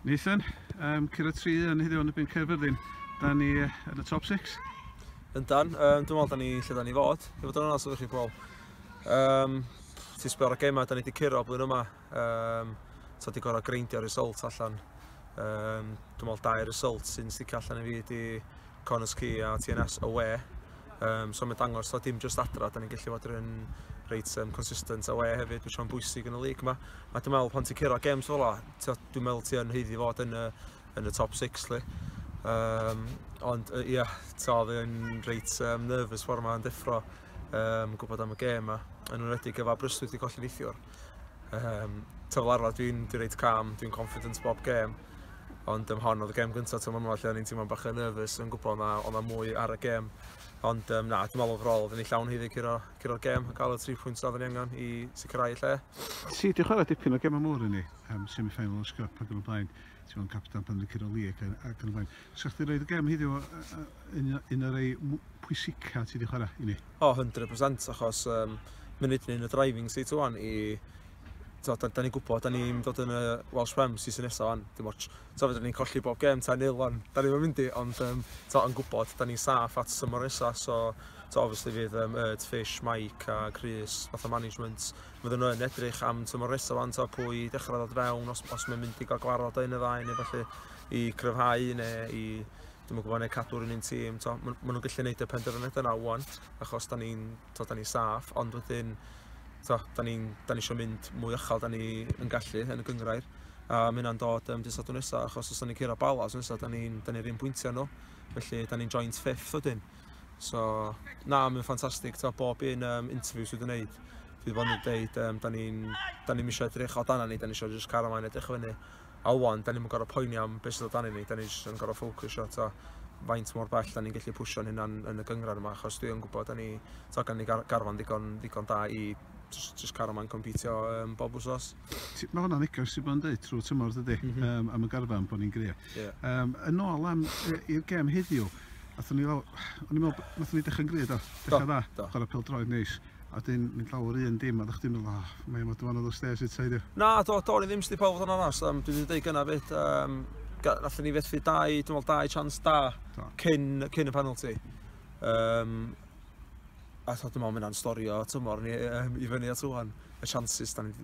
Nathan, um, cyrra tri yn heddiw yn y byn Caerfyrddin. Da ni yn y top 6. Yndan, um, dwi'n meddwl da ni lle da ni fod. Dwi'n fod yn onas oeddech chi pobl. Um, Ti'n sbio ar y gemau da ni wedi cyrra blwyddyn yma. Um, so di gorau greindio result allan. Um, dwi'n meddwl dau result sy'n sticio allan i fi di Connors Key a TNS away. Um, so mae'n dangos, so dim just adra, da ni'n gallu fod yn reit um, consistent away hefyd, mae'n siarad bwysig yn y lig yma. A dwi'n meddwl pan ti'n cyrra games fel la, dwi'n meddwl ti'n heiddi fod yn y, yn y top 6 li. Um, ond ia, yeah, ta oedd yn reit um, nervous ffordd yma'n deffro um, gwybod am y gêm yma, yn enwedig efo Aberystwyth wedi colli neithiwr. Um, ta fel arfer dwi'n dwi reit calm, dwi'n confident bob gêm. Ond um, hon oedd y gêm gyntaf tymor yma lle o'n i'n teimlo'n bach yn nervous yn gwybod na o'n na mwy ar y gêm. Ond um, na, dwi'n meddwl overall, oedden ni llawn hyddi curo'r gêm a cael y 3 pwynt oedden ni angen i sicrhau lle. Ti wedi chwarae dipyn o gemau mawr yn ni, um, semi-final o Scup ac yn y blaen, ti'n meddwl captan pan yn curo league ac yn y blaen. Sa chdi roed y gem heddiw yn un o'r ei pwysica ti wedi chwarae i ni? O, 100% achos um, munud ni'n y driving seat o'n i so, da, da ni'n gwybod, da ni'n dod yn y Welsh Prem season nesaf o'n, dim ots. So, fydden ni'n colli bob gem ta'n nil o'n, da ni'n mynd i, ond um, so, yn gwybod, da ni'n saff at symor nesaf, so, so obviously fydd um, Erd, Fish, Mike a Chris, fath o management, fydden nhw'n edrych am symor nesaf o'n, so, pwy dechrau ddod fewn, os, os mae'n mynd i gael gwarod o un y ddau, neu felly. i gryfhau neu i dwi'm yn gwybod, neu cadw'r un un tîm. To, ma, ma nhw'n gallu gwneud y penderfyniad yna o'n, achos da ni'n ni saff, ond wedyn, to, da ni'n ni eisiau mynd mwy uchel, da ni yn gallu yn y gyngrair. A mae hynna'n dod um, dydd Sadwrn nesaf, achos os da ni'n cyrra bala os nesaf, da ni'n ni, ni un bwyntiau nhw. Felly, da ni'n joint fifth o dyn. So, na, mae'n ffantastig, to, bob un um, interview sydd wedi'i wneud, fi wedi bod yn dweud, um, da ni'n ni eisiau edrych o dan ni, da ni eisiau just cario maen edrych o fyny. A ŵan, da ni'm yn gorfod poeni am beth sydd o dan i ni, da ni jyst yn gorfod ffocysio, ta, faint mor bell da ni'n gallu pwysio'n hynna'n yn y gyngred yma, achos dwi yn gwybod, da ni, ta, gan ni gar garfan ddigon, ddigon da i just, just cario ma'n competio um, bob wsos. Mae hwnna'n ddigon sy'n bod yn dweud trwy tymor dydy, mm -hmm. um, am y garfan bod ni'n grio. Yeah. Um, yn ôl am i'r gem heddiw, Nathon ni fel, o'n i'n meddwl, nathon ni dechrau'n gred o, dechrau dda, chwarae pel droed neis. A wedyn mynd lawr yr un dim a dych chdi'n meddwl oh mae yma dyfanod o stêrs eto i di. Na do do o'n i ddim sti pawb fod yn onast um, dwi wedi deud gyna fyd um, allan ni fethu dau, dwi'n meddwl dau chance da cyn, cyn y penalty. Um, a dwi'n meddwl mynd a'n storio tymor ni um, i fyny at rwan, y chances da ni,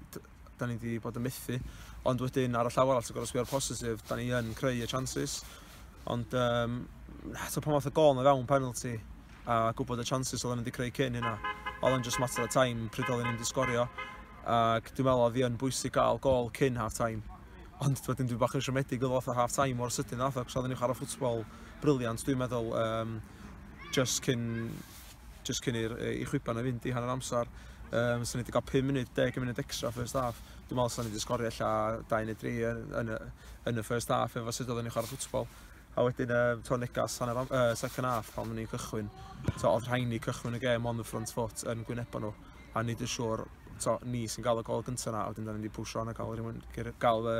da ni wedi bod yn methu. Ond wedyn, ar y llaw arall, ti'n gorau sbio'r positif, da ni yn creu y chances. Ond, um, so pan fath o gol na fewn penalty, a gwybod y chances oedd wedi creu cyn hynna, oedd yn just matter of time pryd oedd ni'n disgorio. Ac dwi'n meddwl oedd hi yn bwysig gael gol cyn half time. Ond wedyn dwi'n bach yn siomedig oedd oedd half time o'r sydyn nath, ac oedd ni'n chwarae ffutbol briliant, dwi'n meddwl, um, just cyn jyst cyn i'r i chwiban na fynd i hanner amser. Um, so ni wedi cael 5 munud, 10 munud extra first half. Dwi'n meddwl sy'n ni wedi sgorio lla 2 neu 3 yn, yn, yn y first half efo sut oedden ni'n chwarae ffwtsbol. A wedyn, um, to negas hanner am, uh, second half pan ni'n cychwyn. To, oedd rhain ni cychwyn y gêm on the front foot yn gwynebau nhw. A nid yn siŵr to, ni sy'n cael y gol gyntaf na, wedyn da ni wedi pwysio yna gael, rhywun, gael uh,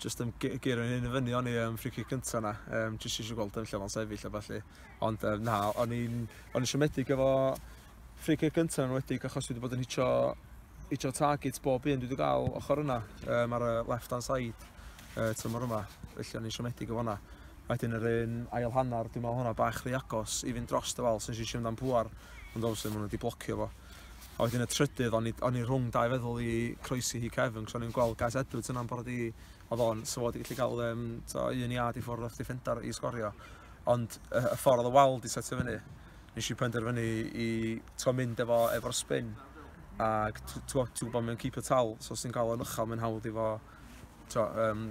jyst yn geirio hyn i fyny o'n i yn free kick cynta na, um, jyst eisiau gweld yn lle o'n sefyll a falle. Ond um, na, o'n i'n o'n i siomedig efo free kick cynta yn wedi achos wedi bod yn hitio, hitio target bob un dwi wedi gael ochr yna um, ar y left hand side uh, tymor yma, felly o'n i'n siomedig efo hwnna. Wedyn yr un ail hanner, dwi'n meddwl hwnna bach rhy agos i fynd dros dy fal, sy'n eisiau amdan pŵar, ond obviously maen nhw wedi blocio fo. A wedyn y trydydd, o'n i, o'n i rhwng dau feddwl i croesi hi cefn, cos o'n i'n gweld Gaz Edwards yna'n bod i, oedd o'n sylwad i gallu cael um, to, un iad i ffwrdd o'ch defender i sgorio. Ond y, y ffordd o wal di setio fyny, nes i penderfynu i to, mynd efo, efo'r spin. Ac ti'n gwybod mae'n keep y tal, so os ti'n cael o'n uchel, mae'n hawdd i fo to, um,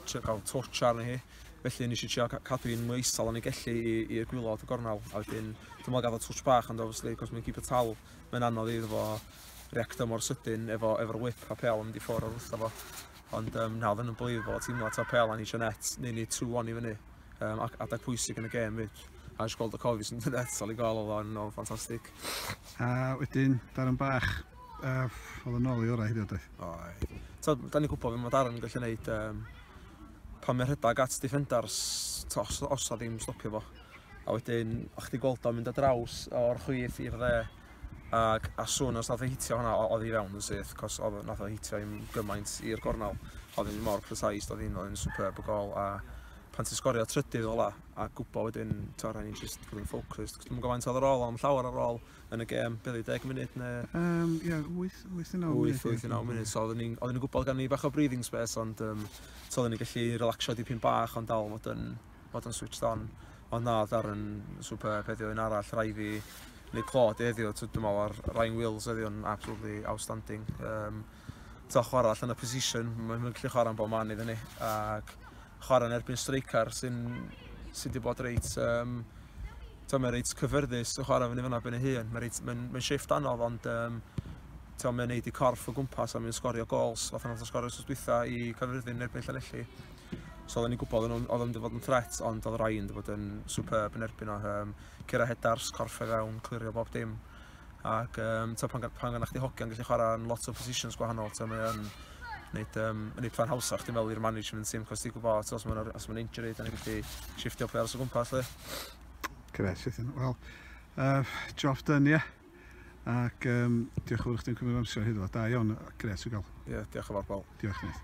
trio cael twtch arni hi. Felly nes i trio cadw i'n mwy isal yn ei gellu i'r gwylod y gornel. A wedyn, dwi'n meddwl gael twtch bach, ond obviously, cos mae'n keep y tal, mae'n anodd iddo fo reacto mor sydyn efo, efo'r whip a pel yn mynd i ffwrdd o'r wrtho fo. Ond um, na, oedd yn unbelievable, teimlo to pel a ni eisiau net, neu ni trwy o'n i fyny. Um, ac adeg pwysig yn y gêm fyd. A eisiau gweld y cofis yn dweud eto i gael oedd o'n no, ffantastig. A wedyn, Darren Bach, uh, oedd yn ôl i orau hyd oedd? Oedd. So, da ni'n gwybod fe mae Darren yn gallu gwneud um, pan mae'n rhedeg at defenders, to, os, os da ddim stopio fo. A wedyn, o'ch ti gweld o'n mynd o draws o'r chwith i'r dde, ac a swn os nath o hitio hwnna, oedd hi fewn yn syth, cos oedd nath o hitio i'n gymaint i'r gornel, oedd hi'n mor precise, oedd hi'n superb y gol, a pan ti'n sgorio trydydd ola a gwybod wedyn, ti'n rhaid i just fod yn ffocws. Cos dwi'n gyfaint oedd ar ôl, am llawer ar ôl yn y gêm, beth i 10 munud neu... Um, ia, 8, 8 9 munud. 8, 8 9 munud, so oedden ni'n gwybod gan ni bach o breathing space, ond um, so oedden ni'n gallu relaxio dipyn bach, ond dal fod yn, fod yn switched on. Ond na, oedd Darren superb heddiw yn arall, rai fi neu Claude heddiw, dwi'n meddwl ar Ryan Wills heddiw yn absolutely outstanding. Um, to chwarae allan y position, mae'n gallu chwarae'n bod man iddyn ni. Ac chwarae yn erbyn streicar sy'n sy wedi bod reit... Um, mae'n reit cyfyrddus yn chwarae fyny fyna ben ei hun. Mae'n ma ma shift anodd ond um, ti'n mynd neud i corff o gwmpas a mynd sgorio gols. Oedd hwnna'n sgorio sos dwytha i Caerfyrddin erbyn Llanelli. So oedden ni'n gwybod oedd nhw'n mynd i fod yn threat, ond oedd Ryan wedi bod yn superb yn erbyn o. Um, Cera Hedars, corff e fewn, clirio bob dim. ac um, ta, pan, pan gan chdi hogiau'n gallu chwarae yn lot o positions gwahanol, ta, mae yn wneud, um, yn eitha hawsa chdi fel i'r management team, cos ti'n gwybod, os mae'n ma injury, da ni'n gallu shiftio players o gwmpas, le. Gret, Ethan. Wel, uh, job done, ie. Yeah. Ac um, diolch yn fawr chdi'n cymryd amser hyd o Da iawn, gret i gael. Ie, yeah, diolch yn fawr, Paul. Diolch, Nid.